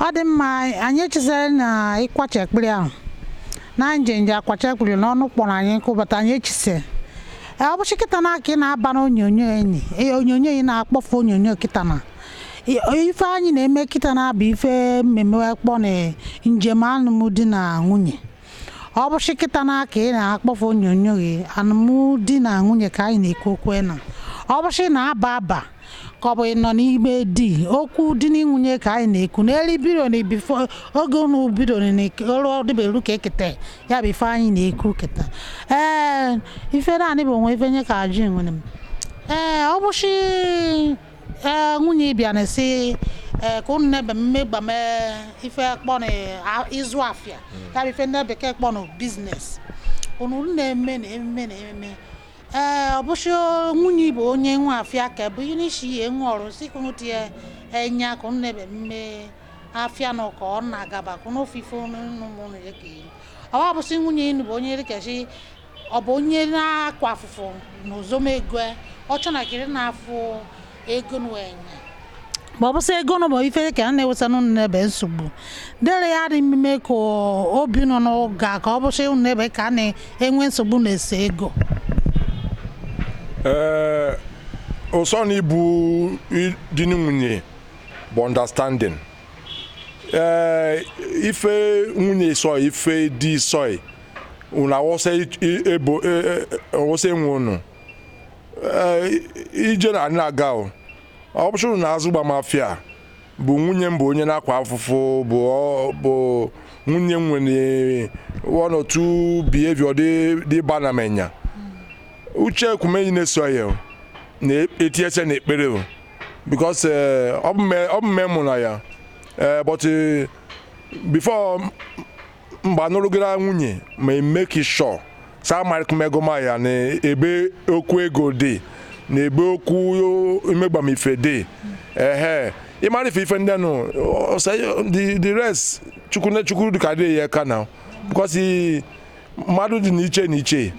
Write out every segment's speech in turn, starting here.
ọ dị mma anyị echisere na ịkwacha ekpere ahụ na njenje akwacha ekpere n'ọnụ kpọrọ anyị nkụ bata anyị echise Ee, ọ bụchi kịta na aka ị na-aba na onyonyo enyi ee, onyonyo ị na-akpọfe onyonyo kịta na I- ife anyị na-eme kịta na-abụ ife mmemme kpọ na njem alụmdi na nwunye ọ bụshị kịta na aka ị na-akpọfe onyonyo gị alụmdi na nwunye ka anyị na-ekwu okwu na ọ bụshị na-aba aba ka ọ bụ ị nọ n'ime di okwu di na nwunye ka anyị na-ekwu n'elu biro na bifo oge unu biro na ọrụ ọdịberu ka eketa ya bụ ife anyị na-ekwu keta ee ife naanị bụ onwe ife nye ka ajụ nwere m ee ọ bụchi ee nwunye bịa na-esi ee ka unu na-ebe megbame ife kpọ na ịzụ afịa ya bụ ife ndị bekee kpọ na business unu na-eme na ememe na ememe ee ọ bụchi nwunye bụ onye nwe afịa ka bụ ihe n'isi ihe nwe ọrụ si ka unu tinye enya ka unu na-ebe mme afịa nụ ka ọ na-agaba ka unu ofe ife unu ụmụ unu ya ka ọ bụsị nwunye inu bụ onye dịkachi ọ bụ onye na-akwa afụfụ na ozome ego ọ chọnagịrị na-afụ ego n'enya ma ọ bụsị ego nọ ma ife ka a na-eweta n'ụnụ n'ebe nsogbu dere ya dị mmemme ka obi nọ n'ụga ka ọ bụsị ụnụ n'ebe ka a na-enwe nsogbu na-ese ego ee ụsọ na ịbụ di na nwunye bụ understanding ee ife nwunye sọ ife di sọ unu awụsa i- i- ebo e- e- awụsa enwe unu Ee, i- ije na anyị aga o ọ bụchụrụ na-azụgbame afịa bụ nwunye m bụ onye na-akwa afụfụ bụ ọ- bụ nwunye m nwere one or two behavior dị dị bana m enya uche ekwumeyi na-eso ya o, na-etiese na ekpere o because eh, ọ bụ mme- ọ bụ mme mụ na ya Eh, but eh, before mgbe anụrụgara nwunye ma make sure saa marịkmegoma ya na ebe okwu ego dị na ebe okwu imegbame ife dị ehe ịmara ife ife ndị nụ ọ- ọ- the the rest chukwu na chukwu dịka dị ya aka na because i- mmadụ dị n'iche n'iche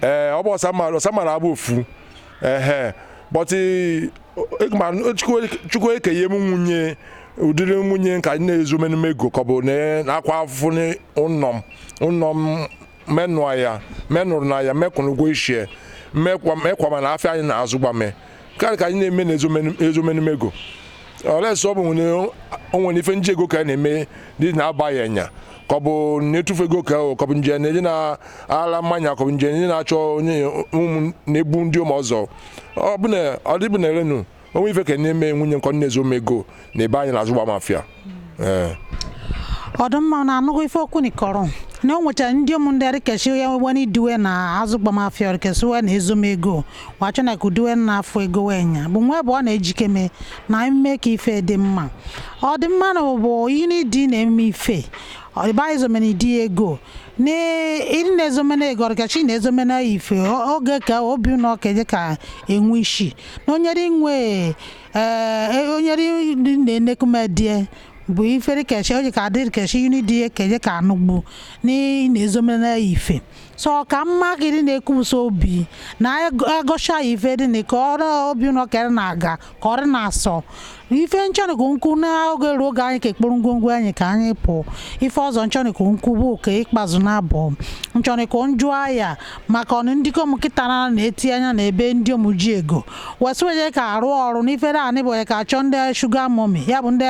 ee ọ bụ ọsamara ọsamara abụ ofu ehe but i- ma chukwu ekenye m nwunye ụdịrị nwunye ka anyị na-ezu omenume ego ka ọ bụ na na-akwa afụfụ n'ụlọ m ụlọ m menụa ya menụrụ na ya mekwụrụ ụgwọ ishie mekwa mekwa mana afịa anyị na-azụgbame karị ka anyị na-eme na ezu omenume ego olesi ọ bụ nwere o nwere ife m ji ego ka a na-eme dị na-abaghị anya ka ọ bụ na-etufu ego ka ọ ka ọ bụ nje na-eji na-ala mmanya ka ọ bụ nje na-eji na-achọ onye ụmụ na-ebu ndị ụmụ ọzọ ọ bụ na ọ dịbụ na erenu o nwe ife ka na-eme nwunye nkọ na-ezo m ego na ebe anyị na-azụgbam afịa ee ọ dị mma na anụgo ife okwu nikọrọ na o nwechara ndị ụmụ ndị arịkechi ya wewena iduwe na azụgbam afịa orikesiwe na-ezo m ego wachọ na kuduwe na afụ ego wenya bụ nwa ebe ọ na-ejike mee na ime ka ife dị mma ọ dị mma na bụ ihe n'idi na-eme ife ọba ezomena di ego na ịdị na-ezomena ego ọrịkachi na-ezomena ife o- oge ka obi na ọka eje ka enwe isi na onyere inwe ee onyere ndị na-enekumedie bụ ifere kechi oji ka adịrị kechi yuni dị ya keje ka anụgbu na ị na-ezomena ife so ọ ka mma ka ịdị na-ekwusa obi na-egosha ife dị na ka ọrụ obi na ọka na-aga ka ọ dị na-asọ ife nchọnọ ikwu nkwu n'oge ruo oge anyị ka ekporo ngwongwo anyị ka anyị pụọ ife ọzọ nchọnọ ikwu nkwu bụ ka ịkpazụ na-abụ nchọnọ ikwu njụ ahịa maka ọnụ ndịkom kịta na na-eti anya na ebe ndịomu ji ego wesị wenye ka arụ ọrụ n'ife naanị bụ onye ka achọ ndị sugar mummy ya bụ ndị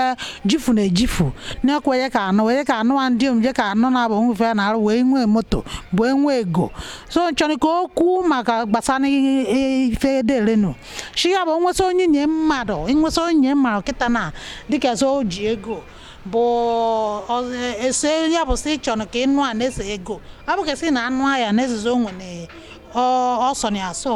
jifu na ejifu na-ekwenye ka anụ wenye ka anụ a ndịomu je ka anụ na-abụ nwe ife na arụ wee nwee moto wee nwee ego so nchọnọ ikwu okwu maka gbasara ife ederenu shi ya bụ nweta onyenye mmadụ nweta onyenye mmadụ kịta na dịka so o ji ego bụ isi ya bụ sị chọrọ ka ịnụ a n'isi ego ọ bụ ka sị na anụ ahịa na-ezizo onwe na ọ sọ na-asọ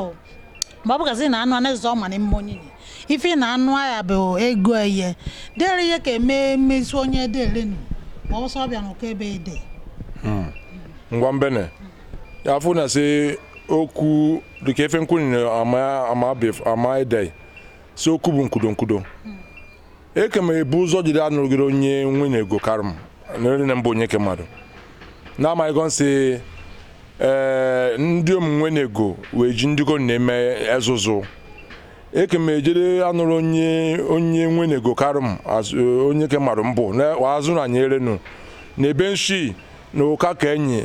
ma ọ bụ ka sị na anụ a na-ezizo ọ ma na mma onyenye ife na anụ ahịa bụ ego eye dere ihe ka eme emezi onye derenu ma ọ sọ bịa n'ụkọ ebe ede ngwa mbene ya afụ na sị okwu dịka ife nkwụ nyere amaidei si okwu bụ nkwudo nkwudo eke ma ebu ụzọ jiri anụrụgịrị onye nwene ego karị m na nne m bụ onyeke mmadụ na-amaghịgo sị ee ndịom nwene ego wee ji ndịkom na-eme ezuzu eke ma ejere anụrụ onye onye nwene ego karị m azụ- onyeke mmadụ mbụ na azụ na anyị erenu na ebe nshi na ụka ka enyi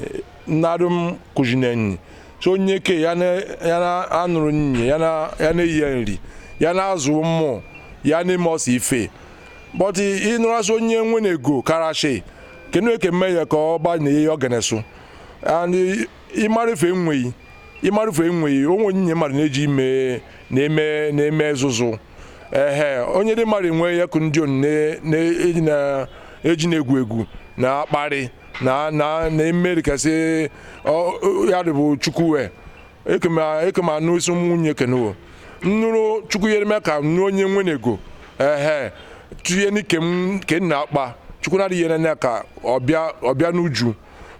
narụ m kụzina nyi so onyeke ya na-anụrụ nye ya na-enye ya nri ya na-azụ ụmụ ya na-eme ọsọ ife but ịnụrasị onye nwene ego karashi kenu eke mme ya ka ọ gba na ihe ọ ganesu and ịmara ife enweghị ịmara ife enweghị onyenye mmadụ na-eji ime na-eme na-eme ezuzu ehe onye di mmadụ enwe akụ ndịom na-eji na-egwu egwu na akparị na na na eme dịka sị ya dịbụ chukwuwe ekema anụ isi nwunye kenewo nnụrụ chukwu yere m aka nụ onye nwene ego ehe tinye n'ike m ke nna akpa chukwu na-adịghị ene anya ka ọ bịa ọ bịa n'uju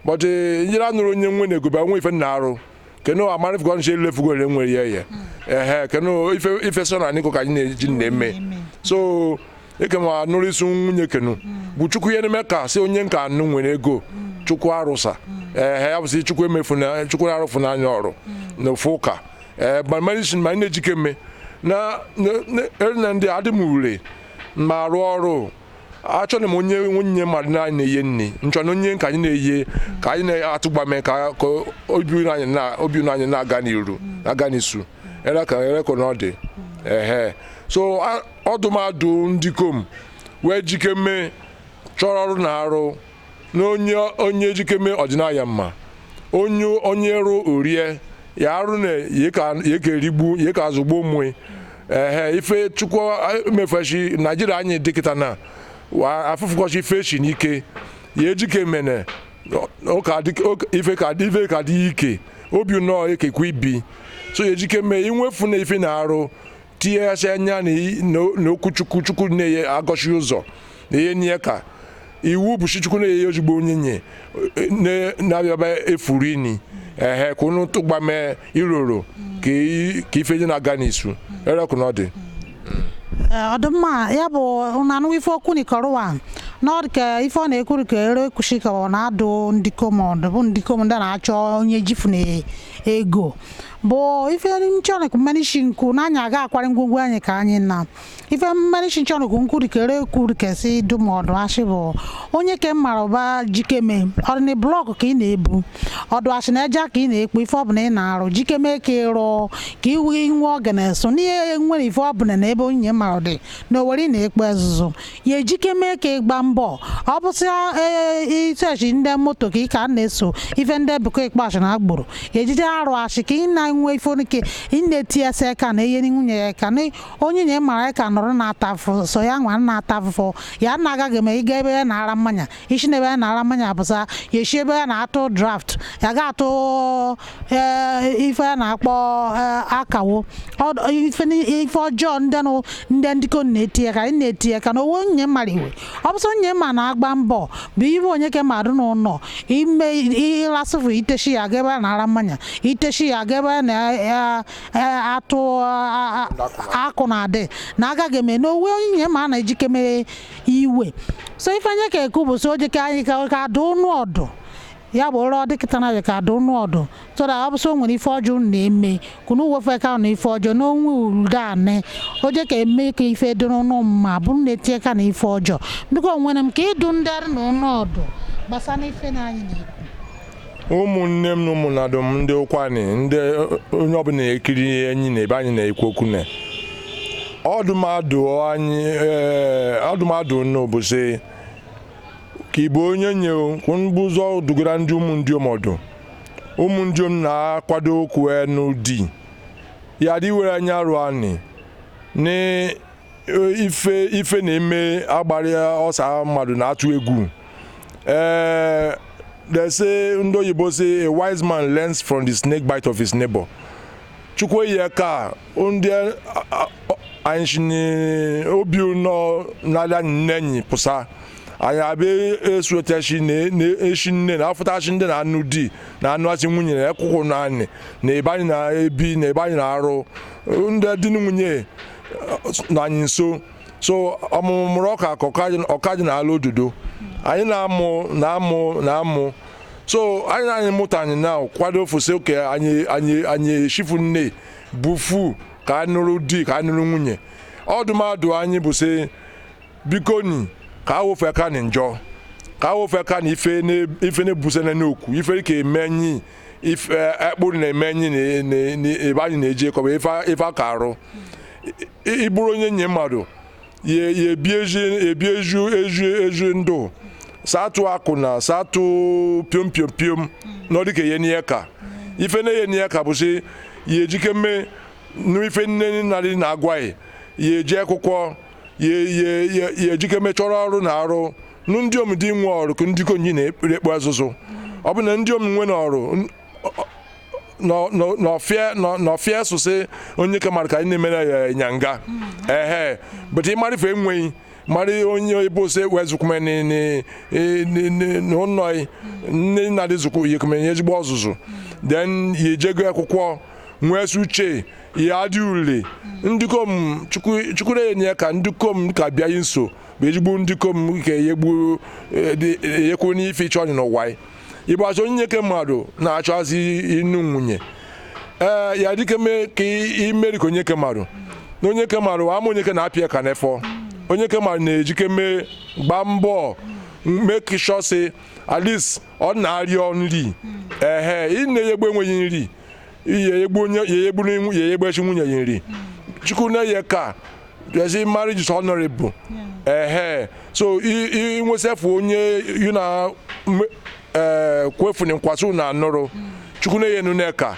but njere anụrụ onye nwene ego bịa nwe ife na arụ kenu amarịf ka ọ nche ilefugo ole nwere ya ya ehe kenu ife ife so na anyị ka anyị na-eji na-eme so eke ma nụrụ isi nwunye kenu bụ chukwu ihe na-eme ka si onye nka anụ nwere ego chukwu arụsa ehe ya bụsị chukwu emefu na chukwu na-arụfu n'anya ọrụ na ofu ụka ee bamarisin ma anyị na-ejikeme na na- na- na ndị adị m ure ma arụ ọrụ achọrọ m onye nwunye mmadụ na anyị na-eye nri nchọ na onye ka anyị na-eye ka anyị na-atụgbame ka ka obi unu anyị na obi unu anyị na-aga n'iru na-aga n'isu ereko ereko na ọ dị ehe so a- ọdụmadụ ndikom were jikeme chọrọ ọrụ na-arụ na onye onye jikeme ọ dịna ya mma onye onye rụọ o rie ya arụ na ya ka ya ka erigbu ya ka azụgbo onwe ehe ife chukwu mefeshi naijiria anyị dịkịta na wa- afụfụ kọshi feshi n'ike ya ejike mene ọ ka dị- ọ ka- ife ka ife ka dị ike obi nnọọ ekekwe ibi so ya ejike mee i nwefu na ife ị na-arụ tinyeghasị anya n'okwu chukwu chukwu na-enye egosi ụzọ na-enye nye ka iwu bụ chukwu na-enye ozugbo onye nye na-abịaba efuru ini ehe ka unu tụgbame iroro ka ife nye na-aga n'isu ereko na ọ dị ọdịmma ya bụ nanụ ife okwu nikọrụwa n'ọdịka ife ọ na-ekwuru ka ere ekwushi ka ọ na-adụ ndikom ọdụ bụ ndikom ndị na-achọ onye jifu na ego bụ ife nchọnụkụ mmanishi nkụ na anyị aga akwari ngwongwo anyị ka anyị na ife mmanishi nchọnụkụ nkụ dikere ekwu dị ka e si dụ m ọdụ ashị bụ onye ke mara ụba jikeme ọ dị nị blọkụ ka ị na-ebu ọ dụ ashị na eja ka ị na-ekpo ife ọbụla ị na-arụ jikeme ka ị rụọ ka ị wee nwe oge na-eso n'ihe nwere ife ọbụla na ebe onye mara dị na owere ị na-ekpo ezuzu ya ejike mee ka ị gba mbọ ọ bụ sị ee isoshi ndị moto ka ị ka na-eso ife ndị bekee kpọsị na agboro ya ejike arụ ashị ka ị na-enwe ife onye ka ị na-eti ya sị ka na ihe nwunye ya ka na onye nye mara ya aka nọrọ na-ata afụfụ so ya nwa na-ata afụfụ ya na-agaghị eme ịga ebe a na-ara mmanya i shi n'ebe a na-ara mmanya apụsa ya esi ebe a na-atụ draft ya ga-atụ eh, ife a na-akpọ eh, akawo Ọ- ife ni- ife ọjọọ ndị nụ ndị ndikom na-etinye aka anyị na-etinye aka na owo nye mmadụ iwe ọ bụsọ nye ma na-agba mbọ bụ ibe onye ke mmadụ n'ụlọ ime ịlasịfụ iteshi ya ga ebe a na-ara mmanya iteshi ya ga ebe a na-atụ akụ na-adị na agaghị eme n'owe onye ma a na-ejikeme iwe so ife anyị ka ekwu bụ so o je ka anyị ka adụ ụnụ ọdụ ya bụ ụrọ dịkịta na ka adụ ụnụ ọdụ so that ọ bụ so nwere ife ọjọọ unu na-eme ka unu wefụ aka na ife ọjọọ n'onwe urude anị o je ka eme ka ife dị n'ụnụ mma bụ na etinye aka na ife ọjọọ biko nwere m ka ịdụ ndị arụ na ụnụ ọdụ gbasara ife na anyị na-ekwu ụmụnne m na ụmụnadụ m ndị Ụkwụanị ndị onye ọbụla ekiri enyi na ebe anyị na-ekwu okwu na ọdụmadụ anyị ee, ọdụmadụ nụ bụ sị ka ịbụ onyenye kwụnbụ ụzọ dugara ndị ụmụ ndịom ọdụ ụmụ ndịom na-akwado okwu ịnụ di ya dị were anya rụ anị na e, ife ife na-eme agbarịa ọsa mmadụ na-atụ egwu ee eh, they say ndị oyibo say a wise man learns from the snake bite of his neighbor chukwu eyi ka ndị anyị obi nọ n'ala nne enyi pụsa anyị abịa esuotachi na-eshi nne na afụtachi ndị na anụ di na anụ achị nwunye na ekwụkwụ na anyị na ebe anyị na-ebi na ebe anyị na-arụ ndị di na nwunye na anyị nso so ọmụmụ mụrụ ọka ka ọka ji na ala ododo anyị na-amụ na amụ na amụ so anyị anyị mụta anyị na kwado ofụsị oke anyị anyị anyị eshifu nne bufu ka a nụrụ di ka a nụrụ nwunye ọdụmadụ anyị bụ sị biko ni ka awofe ka ni njọ ka awofe ka ni ife ne ife ne buse ne n'okwu ife ka emenyi ife ekpụrụ na emenyi na- na- na- ebe anyị na-eji ekọba ife a- ife aka arụ I- i- ịbụrụ onyenye mmadụ ya ya ebi eji ebi eju eju eju ndụ satụ akwụna satụ piom piom piom na ọ dịka ihe n'ihe ka ife na ihe n'ihe ka bụsị ya ejikeme n'ife nne nadị na-agwa yị ya eje akwụkwọ ya ejikeme chọrọ ọrụ na-arụ nụ ndịom dị nwe ọrụ ka ndị konyi na-ekpere ekpe azụzụ ọ bụ na ndịom nwe na ọrụ n'ọfịa sụsị onyeke mara ka anyị na-emere ya ịnyanga ehe but ịmara ife enweghị mara onye ebe ose wezụkwume n'ụnọ nne nadị zụkwu yekwume ya ezigbo ọzụzụ then ya ejego akwụkwọ nwesi uche ya dị ule ndịkom chukwu na-enye ka ndịkom ka bịa nso bụ ezigbo ndịkom ka eyekwu n'ife ịchọ ọnyị n'ụwa ịbụzi onyeke mmadụ na-achọzi ịnụ nwunye ee ya dịka mee ka imeri ka onyeke mmadụ na onyeke mmadụ ama onyeke na-apịa aka n'efọ onyeke mmadụ na-ejikeme gbaa mbọ make sure say at least ọ na-arịọ nri ehe ị na-eyegbu enwe yị nri ya eyegbu onye ya eyegbu n'inwu- ya eyegbechi nwunye ya nri chukwu na-eye ka ezi marriage is honorable ehe so inwesefu onye yu na m- eh, kwefuni nkwa sị na anụrụ chukwu na-eye nuneka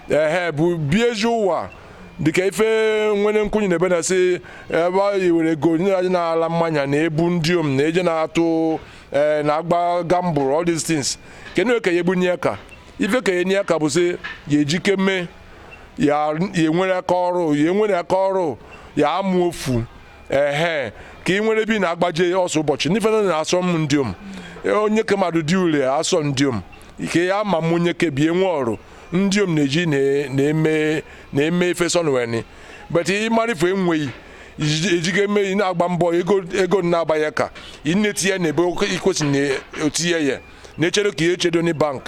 ehe bụ bie ezi ụwa dịka ife nwere nkwunye na ebe na-asị ebe a were ego nyere anyị na-ala mmanya na ebu ndịom na eje na-atụ ee eh, na-agba gamble all these things kedu ka ya ebunye ya aka ife ka enye ya aka bụ sị ya ejike mee ya enwere aka ọrụ ya enwere aka ọrụ ya amụ ofu ehe ka ị nwere bi na-agbaje ọsọ ụbọchị n'ife na na-asọ m ndiom e, onye ke mmadụ dị ule asọ ndiom ike ya ama m onye ke bie nwe ọrụ ndiom na-eji na-eme na-eme ife sọnweni but ị marị ife enweghị ejiga eme ị na-agba mbọ ego na-aba ya aka ị na-etinye ya n'ebe ikwesị na-etinye ya na-echedo ka ihe echedo na bank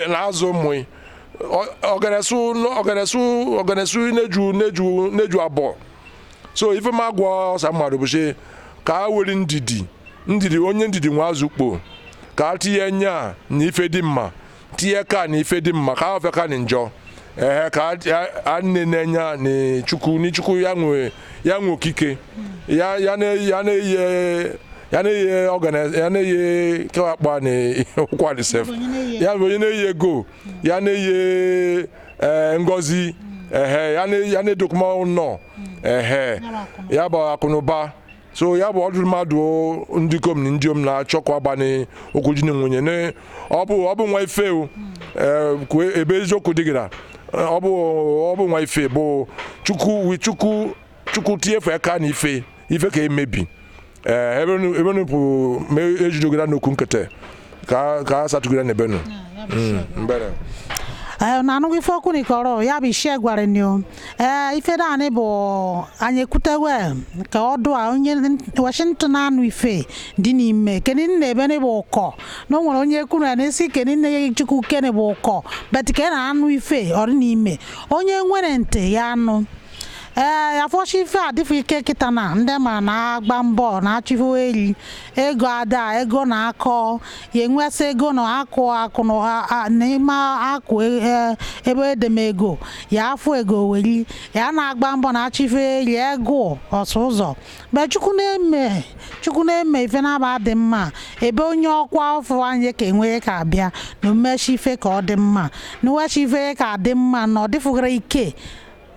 na-azụ ụmụ ọganesu ọganesu ọganesu na-eju na-eju na-eju abụọ so ife m agwa ọsa mmadụ bụ sị ka a were ndidi ndidi onye ndidi nwe azụ ukpo ka a tinye anya na ife dị mma tinye aka na ife dị mma ka a wefụ aka na njọ ehe ka a na-ene anya na chukwu ni chukwu ya nwe ya nwe okike ya ya na ya na-eye ya na-eye ọgana ya na-eye kewa akpa na ụkwụanị sef ya bụ onye na-eye ego ya na-eye ee ngozi ehe ya na- ya na-edokuma ụnọ ehe ya bụ akụnụba so ya bụ ọdụ mmadụ ndikom na ndiom na-achọ ka a banye okwu di na nwunye na ọ bụ ọ bụ nwa ife o ee, kwue- ebe eziokwu dị gị na ọ bụ ọ bụ nwa ife bụ chukwu wi chukwu chukwu tinyefu aka na ife ife ka emebi ee ebe nu- ebe nu bụ ma ejidogo na n'okwu nkịtị ka ka asatugire ne benu mbene ee na anụghị ife okwu n'ikọrọ ya bụ ishie gwara ni o ee ife naanị bụ anyị ekwutewe ka ọ dụ a onye nwesị ntị anụ ife dị n'ime kedu nna ebe ni bụ ụkọ na o nwere onye kwuru ya n'isi kedu nna ya chukwu kene bụ ụkọ but ka na anụ ife ọ dị n'ime onye nwere ntị ya anụ ee afọchi ife adịfụ ike kịta na ndị ma na-agba mbọ na-achọ ife eri ego ada ego na akọ ya enwesị ego na akụ akụ na ha- a- na ime akụ e- e- ebe edemego ya afụ ego weri ya na-agba mbọ na achọ ife eri ego ọsụ ụzọ but chukwu na-eme chukwu na-eme ife na-aba dị mma ebe onye ọkwa ọfụ anyị ka enwe ka abịa na omechi ife ka ọ dị mma na uwechi ife ka dị mma na ọ dịfụghara ike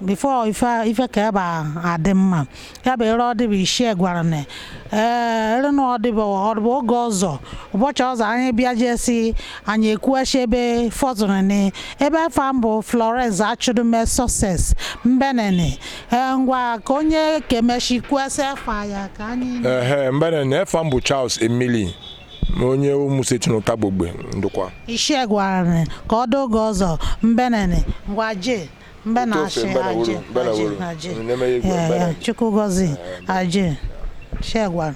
before ife ife ka ebe a adị mma ya bụ ere ọdịbụ ishie gwara ni ee ere na ọdịbụ ọdịbụ oge ọzọ ụbọchị ọzọ anyị bịa jee si anyị ekwuechi ebe fọzụrụ ni ebe afa m bụ florence achụdume success mbene ni ee ngwa ka onye kemechi kwusi afa ya ka anyị ehe mbene ni efa m bụ charles emili ma onye ụmụseti n'ụtagba ogbe ndọkwa ishie gwara ni ka ọ dị oge ọzọ mbene ni ngwa jee mba na achị ajị ajị ajị chukwu gọzi ajị shegwara